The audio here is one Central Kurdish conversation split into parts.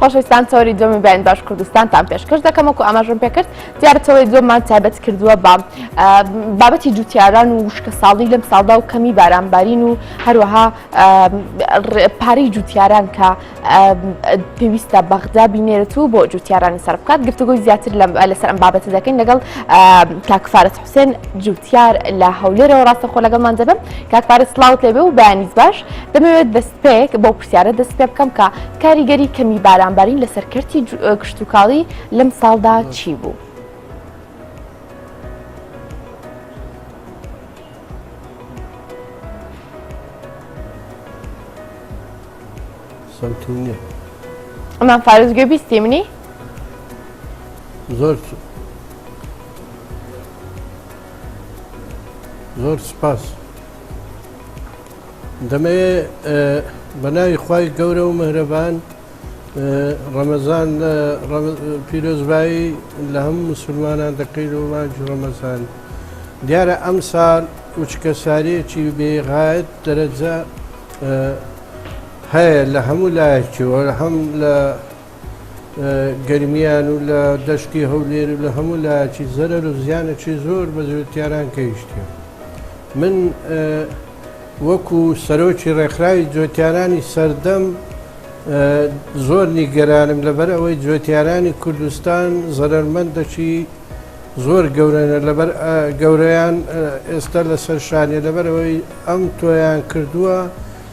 خۆشەویستان چاوەری دومی بەیان باش کوردستانتان پێشکەش دەکەم وەکو ئاماژم پێکرد دیارە چاوەری دومان تابەت کردووە بە بابەتی جوتیاران و وشکە ساڵی لەم ساڵدا و کەمی بارانبارین و هەروەها پارەی جوتیاران کە پێویستە بەغدا بینێرت و بۆ جوتیارانی سەر بکات گفتوگوی زیاتر لەسەر ئەم بابەتە دەکەین لەگەڵ کاکفاارەت حوسێن جوتیار لە هەولێرەوە ڕاستەخۆ لەگەڵمان دەبم کاکفاارە سلااوت لێبێ و بەیانیز باش دەمەوێت بەستپێک بۆ پرسیارە دەست پێ بکەم کە کاریگەری کەمی بارانبارین لەسەر کەرتی کشتوکاڵی لەم ساڵدا چی بوو؟ ئەمان فارزگوێ بیستی منی؟ زۆر زۆر سپاس. دەمەوێ بە ناوی خوای گەورە و مهرەبان ڕەمەزان پیرۆزبایی لە هەموو مسلمانان دەکەین و مانجی ڕەمەزان دیارە ئەم سال وچکە ساریەکی بێغایەت دەرەجە هەیە لە هەموو لایەکیەوە هەم لە گەرمیان و لە دەشتی هەولێر و لە هەموو لایەکی زەرەر و زیانێکی زۆر بە جوتیاران کەیشتیە من وەکو سەرۆکی ڕێکخراوی جوتیارانی سەردەم زۆر نیگەرانم لەبەر ئەوەی جوتیارانی کوردستان زەرەرمەندەکی زۆر گەورەنە لەبەر گەورەیان ئێستا لەسەر شانێ لەبەرەوەی ئەم تۆیان کردووە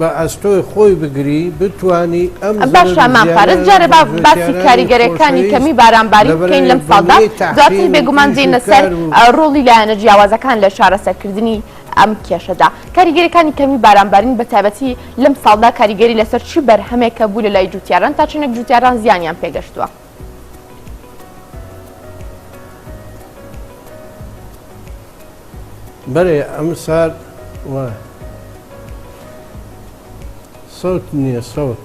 بە ئەستۆی خۆی بگری بتوانی ئەم زەرەر و باشە زیانە مام فارس جارێ با باسی بەرزۆکێارانی کاریگەریەکانی خۆشەویست کەمی باران باری لە بکەین لەم بەرەی ساڵدا بنەی دواتر تەحسین و بێگومان ئیش و دێینە سەر کار و ئە ڕۆڵی لایەنە جیاوازەکان لە چارەسەر کردنی ئەم کێشەدا کاریگەریەکانی کەمی باران بارین بە تایبەتی لەم ساڵدا کاریگەری لەسەر چی بەرهەمێکە بوو لە لای جوتیاران تا چەنێک جوتیاران زیانیان پێگەشتوە؟ بەێ ئەم سار وە سەوت نییە سەوت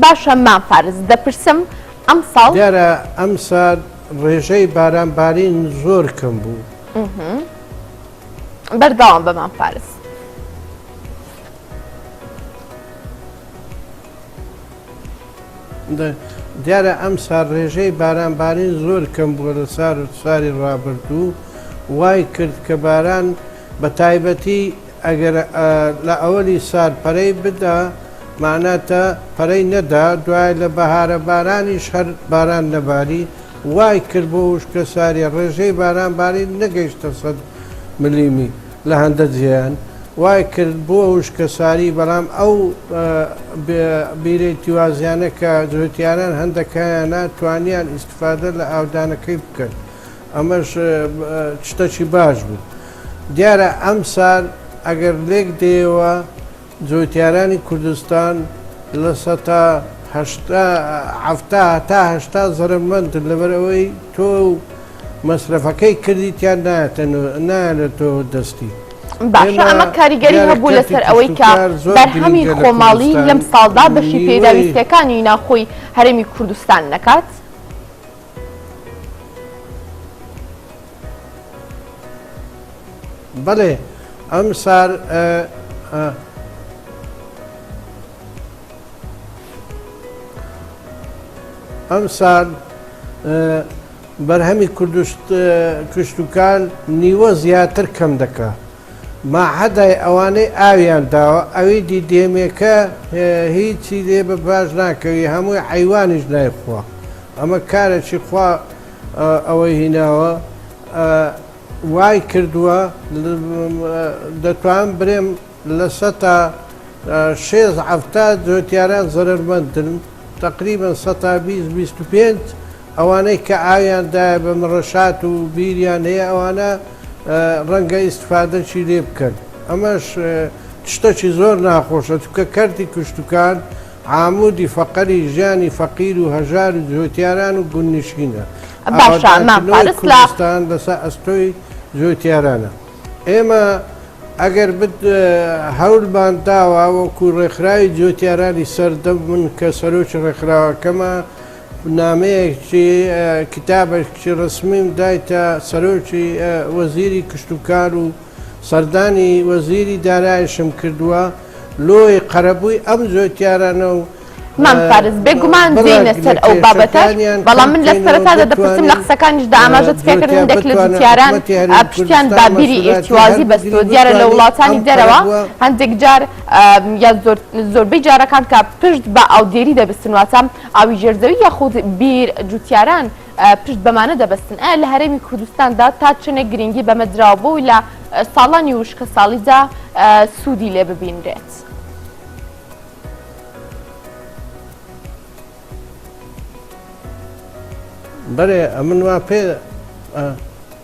باشە مام فارز دەپرسم ئەم ساڵ دیارە ئەم سار ڕێژەی بارانبارین زۆر کەم بوو بەردەوام بە مام فارز دیارە ئەمسار رێژەی بارانبارین زۆر کەم بووە لە سار و ساری رابردوو، وای کرد کە باران بە تایبەتی ئەگەر لە ئەوەلی سار پەرەی بدا مەعناتە پەرەی نەدا دوای لە بەهارە بارانیش هەر باران نەباری وای کرد بۆ وشکە ساری رێژەی بارانبارین نەگەیشتە سەد ملیمی. لە هەندە جێیان وای کرد بووە وشکە ساری بەڵام ئەو بیرەی تیوازیانە کە جوتیاران هەندەکایانە توانیان ئیستفادە لە ئاودانەکەی بکەن ئەمەش شتەکی باش بوو دیارە ئەم سار ئەگەر لێک دێەوە جوتیارانی کوردستان لە سەتا هەشتا حەفتا تا هەشتا زەرەمەندن لەبەر ئەوەی تۆو و مەسرەفەکەی کردیتیان نایەتە نۆ نایەنەتەوە دەستی. باشە ئەمە کاریگەری هەبوو لەسەر ئەوەی کە بەرهەمی خۆماڵی لەم ساڵدا بەشی پێداویستیەکانی ناوخۆی هەرێمی کوردستان نەکات؟ بەڵێ ئەم سار ئەم سار بەرهەمی کوردشت کوشتتوکان نیوە زیاتر کەم دەکە. ماحەدای ئەوانەی ئاویان داوە ئەویدی دێمێکە هیچی لێ بە باش ناکەوی هەمووی حەیوانیش نایخوا ئەمە کارەکی خوا ئەوەی هیناوە وای کردووە دەتوان برێم لە سەتا شێست حەفتا جۆتیاران زەرەرمەندن تەقریبەن سەتا بیست بیست و پێنج ئەوانەی کە ئاویان دایە بە مڕشات و بیریان هەیە ئەوانە ڕەنگە ئیستفادەشی لێ بکەن ئەمەش شتەکی زۆر ناخۆشە چونکە کەرتی کوشتوکان عامودی فەقەری ژیانی فەقیر و هەژار و جوتیاران و گوندنشینە باشە مام فارس لە کوردستان لەسەر ئەستۆی جوتیارانە ئێمە ئەگەر بت هەولمان داوە وەکو ڕێکخراوی جوتیارانی سەردەم من کە سەرۆکی ڕێکخراوەکەمە نامەیەک چی کتابەک چی ڕسمیم دایتە سەرۆکی وەزیری کشتوکار و سەردانی وەزیری دارایشم کردووە لۆی قەرەبووی ئەم جۆتیارانە و مام فارس بێگومان دێینە سەر ئەو بابەتەش بەڵام من لە سەرەتادا دەپرسم لە قسەکانیشدا ئاماژەت پێ کردم دەک لە جوتیاران پشتیان بە بیری ئیرتوازی بەستووە دیارە لە وڵاتانی دەرەوە هەندێک جار یا زۆربەی جارەکان کە پشت بە ئاودێری دەبستن واتە ئاوی ژێر زەوی یاخود بیر، جووتیاران پشت بەمانە دەبەستن. ئایا لە هەرێمی کوردستاندا تا چەنێک گرنگی بەمە دراوە بۆی لە ساڵانی وشکەساڵیدا سوودی لێ ببینرێت؟ بەرێ ئەمن وا پێ.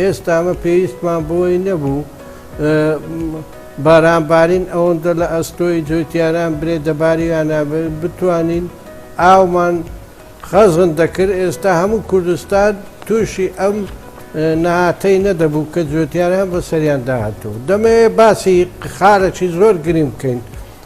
ئێستا ئەمە پێویستمان بۆی نەبوو بارانبارین ئەوەندە لە ئەستۆی جوتیاران برێ دەباریانە بتوانین ئاومان خەزن دەکرد ئێستا هەموو کوردستان تووشی ئەم نەهاتەی نەدەبوو کە جوتیاران بەسەریان داهاتوو دەمەوێت باسی خارەکی زۆر گریم بکەین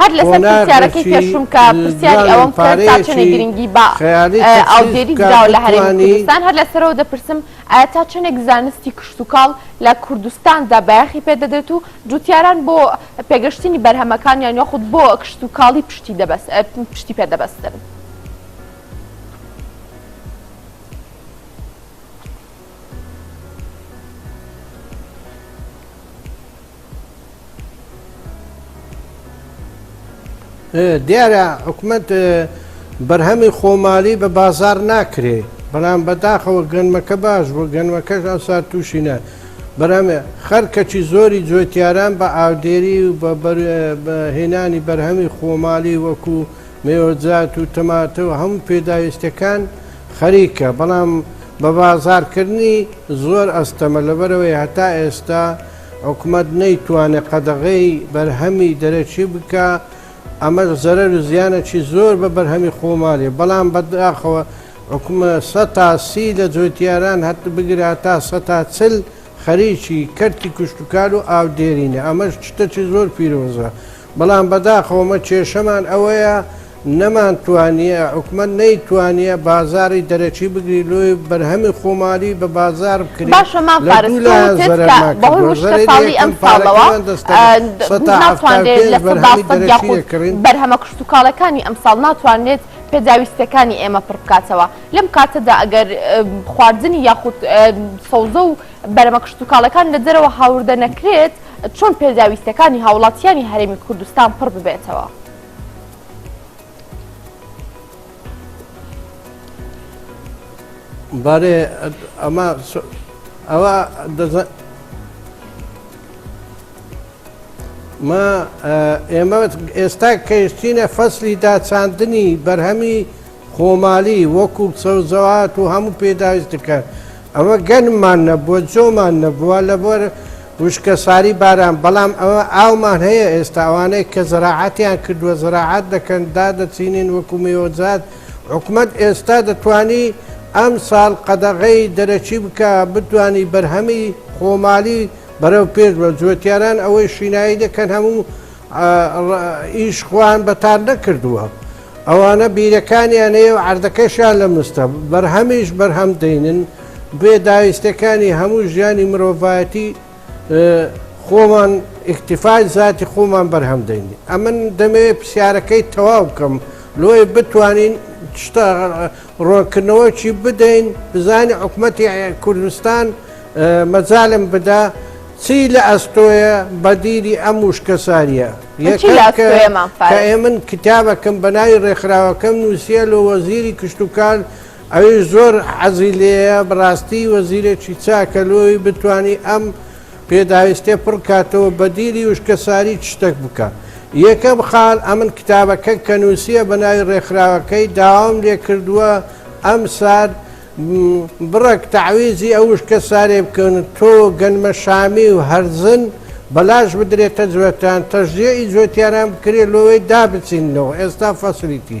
هەر لەسەر پرسیارەکەی پێشوم کە پرسیاری ئەوەم کرد تا چەنێ گرنگی بە ئاودێری دراوە لە هەرێمی کوردستان هەر لەسەرەوە دەپرسم ئایا تا چەنێک زانستی کشتوکاڵ لە کوردستاندا بایەخی پێدەدرێت و جوتیاران بۆ پێگەشتنی بەرهەمەکانیان یاخود بۆ کشتوکاڵی پشتی دەبەست پشتی پێدەبەستن. دیارە حکومت بەرهەمی خۆمالی بە بازار ناکرێ بەڵام بەداخەوە گەنمەکە باش بۆ گەنمەکەش ئەسا تووشینە بەرامێ خەرکەچی زۆری جوێتیاران بە ئاودێری و بە هێنانی بەرهەمی خۆمالی وەکو مێۆزات و تەماتە و هەموو پێداویستەکان خەریکە بەڵام بە بازارکردنی زۆر ئەستەمە لەبەرەوەی هەتا ئێستا حکومەت نەیتوانێت قەدەغەی بەرهەمی دەرەکی بکا، ئەمەش زەرەر و زیانێکی زۆر بە بەرهەمی خۆمالی، بەڵام بەداخەوە حکومە سە تا سی لە جوتیاران هەت بگرە هەتا سە تا چل خەریکی کەرتی کشتوکال و ئاو دێرینە، ئەمەش شتەکی زۆر پیرۆزە بەڵام بەداخەوەمە کێشەمان ئەوەیە نەمان توانیە حکومەت نەی توانیە بازاری دەرەکی بگری لۆی بەرهەمی خۆمالی بە بازار بکری لە دوو لایان زەرەرمان کردوە زەرەری یەکەم پارەکەمان دەستەکان سەتا حەفتا پێنج بەرهەمی دەرەکی دەکڕین بەرهەمە کشتوکاڵەکانی ئەمساڵ ناتوانرێت پێداویستەکانی ئێمە پڕ بکاتەوە لەم کاتەدا ئەگەر خواردنی یاخود سەوزە و بەرەمە کشتوکاڵەکان لە دەرەوە هاوردە نەکرێت چۆن پێداویستیەکانی هاوڵاتیانی هەرێمی کوردستان پڕ ببێتەوە. بارێ ئەمە ئەوە دەزان ما ئێمە ئێستا کەشتینە فەسلی داچاندنی بەرهەمی خۆمالی وەکو سەوزەوات و هەموو پێداویستەکان ئەوە گەنممان نەبووە جۆمان نەبووە لەبەر وشکە ساری باران بەڵام ئەوە ئاومان هەیە ئێستا ئەوانەی کە زەراعاتیان کردووە زەراعات دەکەن دادەچینین وەکو مێوەجات حکومەت ئێستا دەتوانی ئەم ساڵ قەدەغەی دەرەکی بکە بتوانی بەرهەمی خۆمالی بەرەو پێش بە جوتیاران ئەوەی شینایی دەکەن هەموو ئەڵڵ ئیش خۆیان بەتان نەکردووە ئەوانە بیرەکانیان هەیە و عەردەکەشیان لە مستە بەرهەمیش بەرهەم دێنن بێ داویستەکانی هەموو ژیانی مرۆڤایەتی خۆمان ئیکتیفای زاتی خۆمان بەرهەم دێنین ئەمن دەمەوێت پرسیارەکەی تەواو بکەم لۆیە بتوانین شتە ڕوونکردنەوەکی بدەین بزانین حکومەتی کوردستان مەجالم بدا چی لە ئەستۆیە بەدیلی ئەم وشکەساریە من کتابەکەم بەناوی ڕێکخراوەکەم نووسە لە وەزیری کشتتوکال ئەوی زۆر عەزی لێە بڕاستی وەزیرێکی چاکەلۆی بتانی ئەم پێداویست تێپڕ کاتەوە بەدیلی وشکەساری چ شتەک بکە یەکەم خال ئەمن کتابەکە کەنوسیە بەناوی ڕێکخراوەکەی داوام لێکردوە ئەم سار بڕەک تەعویزی ئەو وشکە سارێ بکەون تۆ گەنمە شامی و هەرزن بەلاش بدرێتە جوێتان تەژزیە ئی جوێتیانان بکرێت لۆوەی دابچینەوە ئێستا فەسلیتی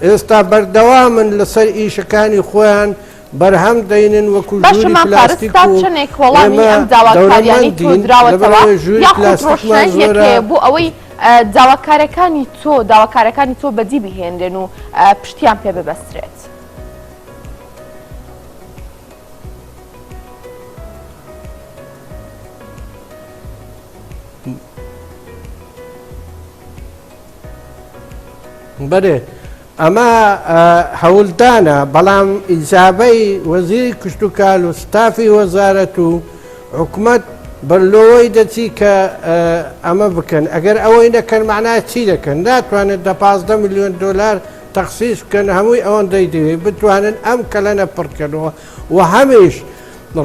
ئێستا بەردەوامن لەسەر ئیشەکانی خۆیان بەرهەم دەینن وەکو ژووری پلاستیک و ئێمە دەورەمەندین لەبەرئەوەی ژووری پلاستیکمان زۆرە بۆ ئەوەی داواکارەکانی تۆ داواکارەکانی تۆ بەدی بهێنرێن و پشتیان پێ ببەسترێت. بەێ ئەمە هەولدانە بەڵام ئیجابەی وەزیری کوشتتوکال و ستافی وەزارەت و حکومت بەرلۆی دەچی کە ئەمە بکەن ئەگەر ئەوەی نەکەن معنا چی دەکەن ناتوانێت دە 15 میلیۆن دلار تەخصیش بکەن هەمووی ئەوەن دەیدەوێت بتوانن ئەم کەلەنە پڕکەنەوە و هەمیش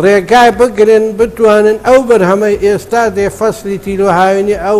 ڕێگای بگرن بتوانن ئەو بەرهەمەی ئێستا دێ فەسلی تیرۆهاوێنی ئەو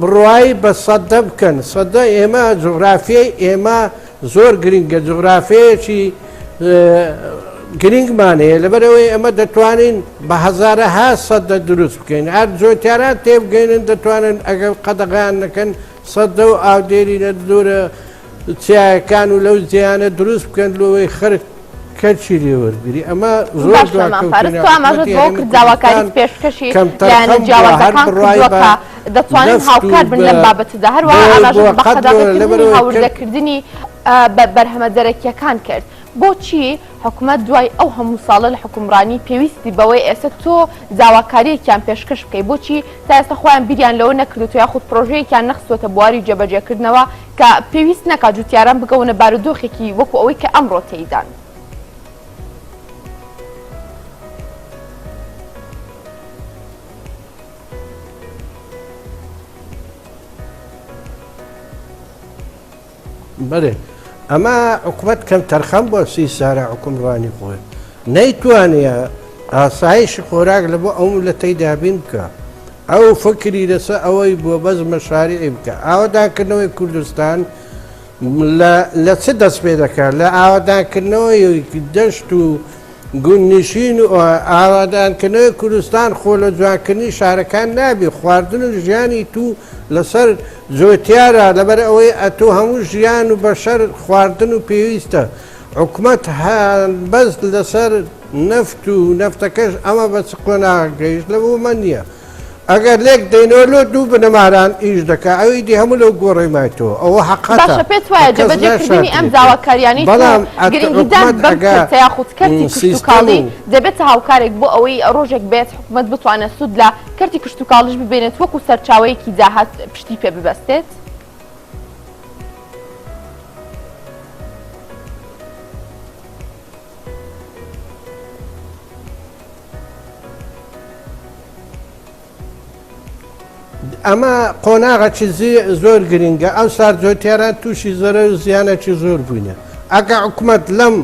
بڕوای بە سەدە بکەن سەدە ئێمە جوغرافیای ئێمە زۆر گرنگە جوغرافەیەکی گرنگمان هەیە لەبەرەوەی ئەمە دەتوانین بە هەزارەها سەدە دروست بکەین ئەر جۆتیاران تێبگەێنن دەتوانن ئەگەر قەدەغیان نەکەن سەدە و ئاودێری لە دورە چیایەکان و لەو جێیانە دروست بکەن لۆوەی خەرک کەلکی لێ وەرگری ئەمە زۆر داواکاری پێشکەشی لایەنە جیاوازەکان کردووە دەتوانن هاوکار بن لەم بابەتەدا هەروە هاوردەکردنی بە بەرهەمە دەرەکیەکان کرد بۆچی حکومت دوای ئەو هەموو ساڵە لە حکومڕانی پێویستی بەوەی ئێستا تۆ داواکاریەکیان پێشکەش بکەی بۆچی تا ئێستا خۆیان بیریان لەوە نەکردوتو یاخود پرۆژەیەکیان نەخستوەتە بواری جێبەجێکردنەوە کە پێویست نەکا جوتیاران بکەونە بارودۆخێکی وەکو ئەوەی کە ئەمڕۆ تێیدان. بەێ ئەمە عقوبەت کەم تەرخەم بۆ سی سارە عکومڕانی خۆێ نەیتوانیە ئاسایشی خۆراک لە بۆ ئەو میللەتەی دابین بکا، ئەو فکری لە سەر ئەوەی بوە بەس مەشاریعی بکا، ئاوەدانکردنەوەی کوردستان لە چ دەست پێ دەکا لە ئاوەدانکردنەوەی دەشت و گوند نشین و ئاوەدانکردنەوەی کوردستان خۆ لە جوانکردنی شارەکان نابی خواردن و ژیانی تو لە سەر جۆتیارە لەبەر ئەوەی ئەتو هەموو ژیان و بەشەر خواردن و پێویستە حکومەت هەڵبەست لەسەر نەفت و نەفتەکەش ئەمە بە چ قۆناغ گەیشت لە بۆ مە نییە ئەگەر لێک دەینەوە لۆ دوو بنەماران ئیش دەکە ئەوی دی هەموو لەو گۆڕێمایتەوە ئەوە حقاتە پێت وایە جەبەجێکردنی ئەم داواکاریانی بەڵام یاخود کاڵی دەبێتە هاوکارێک بۆ ئەوەی ڕۆژێک بێت حکومت بتوانێت سوود لە کەرتی کشتتوکاڵش ببێنێت وەکو سەرچاوەیەکی داهات پشتی پێ ببەستێت. ئەمە قۆناغەکی زۆر گرنگە ئەو سارجۆتیاران تووشی زۆرە و زیانەکی زۆر بووینە ئەگە حکوومەت لەم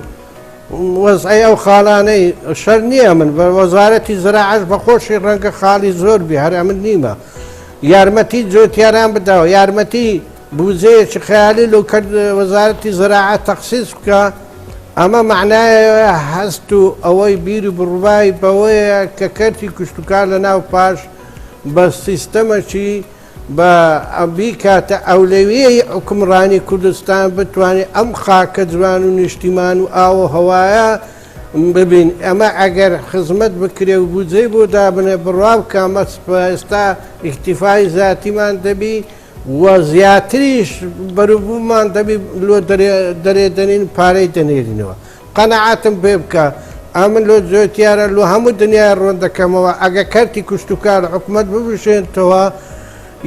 وەزعی ئەو خاڵانەی شەر نییە من بە وەزارەتی زراعش بە خۆشی ڕەنگە خاڵی زۆر بێ هەر ئەمن نیمە یارمەتی جوتیاران بداو یارمەتی بوجەیەکی خەیالی لۆ کەرد وەزارەتی زەراعەت تەخسیس بکا ئەمە مەعنایەوە هەست و ئەوەی بیر و بڕوای بەوەیە کە کەرتی کشتوکار لە ناو پاش بە سیستەمەکی بە بیکاتە ئەولەویەی حوکمڕانی کوردستان بتوانێ ئەم خاکە جوان و نیشتیمان و ئاو و هەوایە ببین ئەمە ئەگەر خزمەت بکرێ و بودجەی بۆ دابنێ بڕوا بکە مە ئێستا ئیکتیفای زیاتیمان دەبی و زیاتریش بەروبوومان دەبی لۆ دەرێ دەنین پارەی دەنێرینەوە قەنەعاتم پێ بکە ئەمن لۆ جۆتیارە لۆ هەموو دنیای ڕۆن دەکەمەوە ئەگە کەرتی کوشتتوکار حکومت ببشێنتەوە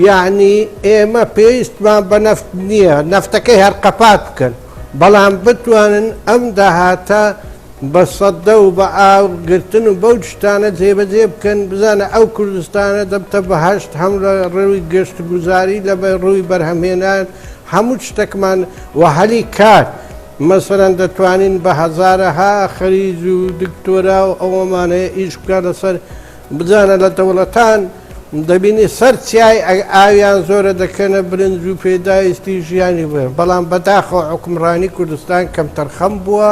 یەعنی ئێمە پێویستمان بە نەفت نییە، نەفتەکەی هەر قەپات بکەن، بەڵام بتوانن ئەم داهاتە بە سەدە و بە ئاور گرتن و بەو شتانە جێبەجێ بکەن، بزانە ئەو کوردستانە دەبتە بەهەشت هەم لە ڕووی گەشتوگوزاری لە ڕووی بەرهەمهێنان هەموو شتەکمان و هەلی کار مەسەلەن دەتوانین بە هەزارەها خەریج و دکتۆرا و ئەوەمان هەیە ئیش بکات لەسەر بزانە لە دەوڵەتان دەبینی سەر چیای ئاویان زۆرە دەکەنە برنج و پێداویستی ژیانی بێ بەڵام بەداخەوە حکمڕانی کوردستان کەمتەرخەم بووە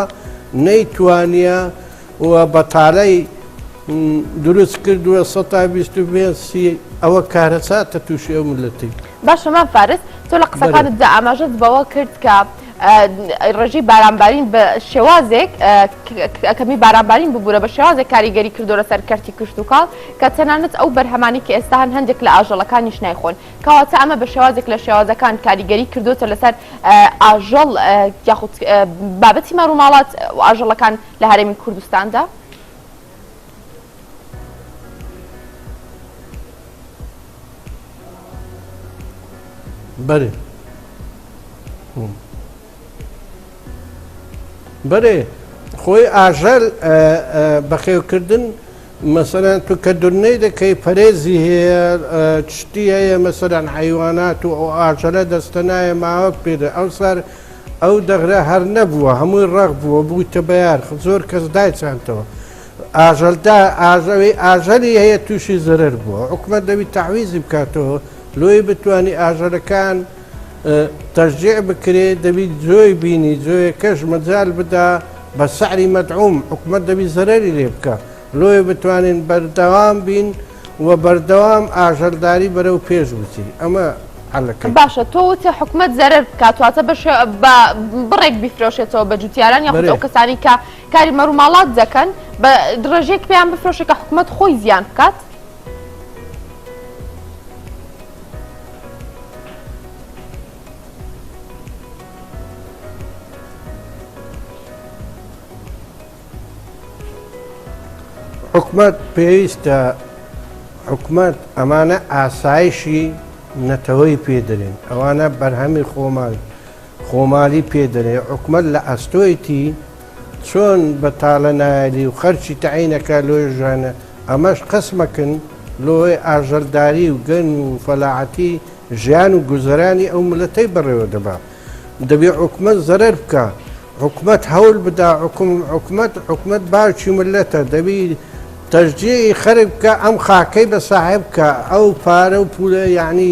نەیتوانیە و بەتاالەی دروست کردووە 120 ئەوە کارەساتە تووشی ئەو ملەتی باشە مام فارس تۆ لە قسەکانت دا ئاماژەت بەوە کرد کە ڕێژەی بارانبارین بە شێوازێک کەمی بارانبارین ببوورە بە شێوازێک کاریگەری کردۆرە سەر کەرتی کشتتوکاڵ کە تەنانەت ئەو بەرهەمانی کە ئێستا هەن هەندێک لە ئاژەڵەکانیش نایخۆن کەواتە ئەمە بە شێوازێک لە شێوازەکان کاریگەری کردوتە لەسەر ئاژەڵ یاخود بابەتی ماروماڵات و ئاژەڵەکان لە هەرێمی کوردستاندا. بەرێ بەرێ خۆی ئاژەل بەخێوکردن مەسەرەن تو کە دورنەی دەکەی پەرێزی هەیە چشتی هەیە مەسەران حیوانات و ئەو ئاژەلە دەستە نایە ماوەک پێدە ئەو سەر ئەو دەغرە هەر نەبووە هەمووی ڕەق بووە بوویتە بەیار زۆر کەس دایچانتەوە ئاژەل دا ئاژەوی ئاژەلی هەیە تووشی زەرەر بووە حکومەت دەوی تەعویزی بکاتەوە لۆی بتانی ئاژەلەکان تەژجیع بکرێ دەبی جۆی بینی جۆیەکەش مەجال بدا بە سەعری مەدعوم حکومەت دەبی زەرەری لێ بکە لۆی بتوانین بەردەوام بین و بەردەوام ئاژەلداری بەرەو پێش بچین ئەمە عەلەکە باشە تۆ وتە حکومەت زەرەر بکاتواتە بەش بە بڕێک بیفرۆشێتەوە بە جوتیاران یاخود ئەو کەسانی کە کاری مەروماڵات دەکەن بە دڕێژەیەک پێیان بفرۆشە کە حکوومەت خۆی زیان بکات. حکومەت پێویستە حکومەت ئەمانە ئاسایشی نەتەوەی پێدرێن ئەوانە بەرهەمی خۆمان خۆمالی پێ دەنێ حکومەت لە ئەستۆیتی چۆن بەتالە نایەلی و خەرچی تەعینەکە لۆی ژانە ئەمەش قەسمەکن لۆی ئاژەلداری و گەن و فەلاعەتی ژیان و گوزەرانی ئەو ملەتەی بەڕێوە دەبا دەبێ حکومەت زەرەر بکا حکومەت هەول بدا حکوم حکومەت حکومەت باوکی ملەتە دەبی تەژدیعی خەرک بکە ئەم خاکەی بە ساحێب بکە ئەو پارە و پولە یعنی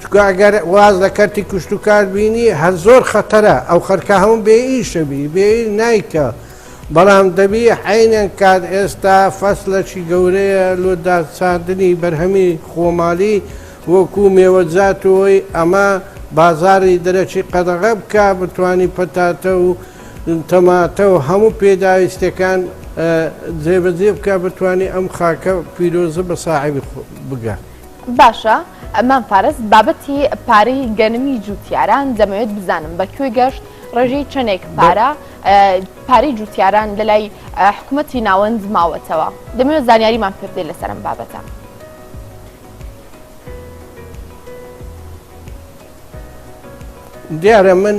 چونکە ئەگەر واز لە کەرتی کوشتوکار بینی هەر زۆر خەتەرە ئەو خەرکە هەموو بێ ئیشە بی بێ نایکە بەڵام دەبی عینەن کات ئێستا فەسلەکی گەورەیە لۆ داچاندنی بەرهەمی خۆمالی وەکو مێوەجاتەوەی ئەمە بازاری دەرەکی قەدەغە بکە بتوانی پەتاتە و تەماتە و هەموو پێداویستەکان جێبەجێ بکە بتوانی ئەم خاکە پیرۆزە بە ساحێبی بگە. باشە مام فارس بابەتی پارەی گەنمی جوتیاران دەمەوێت بزانم بە کوێ گەشت ڕێژەی چەندێک پارە پارەی جوتیاران لەلای حکوومەتی ناوەند ماوەتەوە دەمەوێت زانیاریمان پێبدەی لەسەرم بابەتە. دیارە من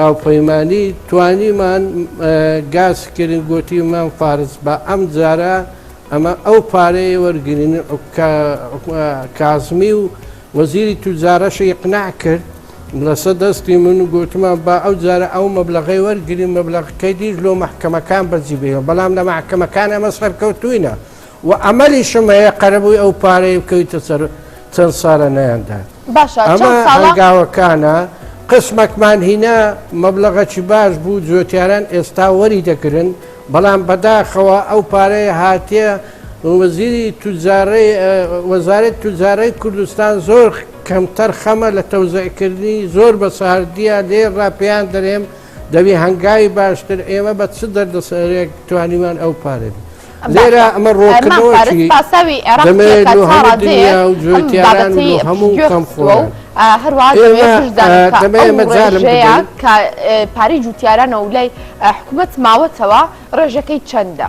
هاوپەیمانی توانیمان گاز کرن گوتیمان فارس بە ئەم جارە ئەمە ئەو پارەیە وەرگین کازمی و وەزیری توجارەشە یقنا کرد لەسە دەستی من و گوتمان با ئەو جارە ئەو مەبلغی وەرگین مەبلغەکەی دیش لۆ محکەمەکان بەجیبێ بەڵام لە محکەمەکان ئەمە سەرکەوتوینە. و ئەمەلیشم هەیە قەرەبووی ئەو پارەی بکەویتە سەر چەند ساڵە نەیاندات ئەمە هەنگاوەکانە قسمەکمان هینا مەبلغەکی باش بوو جوێتیاران ئێستا وەری دەگرن بەڵام بەداخەوە ئەو پارەیە هاتیە وەزیری توجارڕی وەزارەت توجارڕی کوردستان زۆر کەمتەر خەمە لە تەوزەکردنی زۆر بە ساردیە لێ ڕاپیان دەرێم دەبی هەنگاوی باشتر ئێمە بە چ دەردەسەرێک توانیمان ئەو پارێ بێت لێرە ئەمە ڕۆکردەوەی پاساوی عێراقی هەموو کەم خۆ هەروەژەیە کە پارەی جوتیارانە و لای حکوومەت ماوەتەوە ڕێژەکەی چەندە.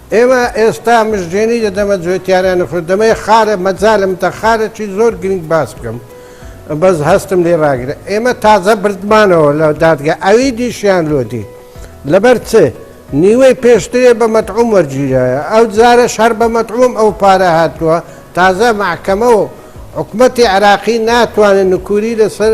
ئێمە ئێستا مژدێنی دەدەمە جوێتیارە نەفرۆ دەمەیە خارە مەجالم تە خارە چی زۆر گرینگ باس بکەم بەس هەستم لێ ڕاگرە ئێمە تازە بردمانەوە لە دادگە ئەوی دیشیان لۆدی لەبەر چ نیوەی پێشترێ بە مەتعوم وەرگیرایە ئەو جارە شەر بە مەتعوم ئەو پارە هاتووە تازە مەحکەمە و حکومەتی عراقی ناتوانن نکوری لەسەر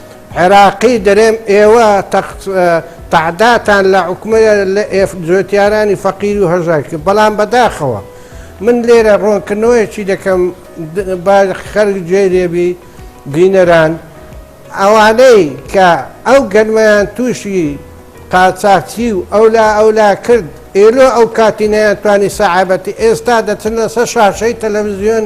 عێراقی دەرێم ئێوە تەعداتان لە عکمە لە ئێف جوێتیارانی فەقیری و هەژار کرد بەڵام بەداخەوە من لێرە ڕۆنکردنەوەیەکی دەکەم خەرک جێ لێبی بینەران ئەوانەی کە ئەو گەنمەیان تووشی قاچاچی و ئەولا ئەولا کرد ئێلۆ ئەو کاتینەیان توانی سەعابەتی ئێستا دەچنە سە شاشەی تەلەڤزیۆن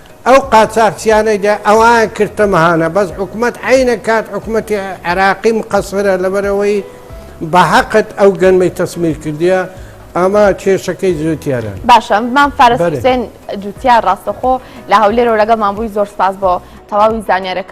ئەو قاچاخچیانەی دە ئەوان کردتە مەهانە بەس حکومەت عینە کات حکومەتی عێراقی مقەسرە لەبەرەوەی بە حەقت ئەو گەنمەی تەسمیر کردیە ئەمە کێشەکەی زیۆتیارە باشە مام فارس حسێن جوتیار ڕاستەخۆ لە هەولێرەوە لەگەڵمان بووی زۆر سپاس بۆ تەواوی زانیارەکە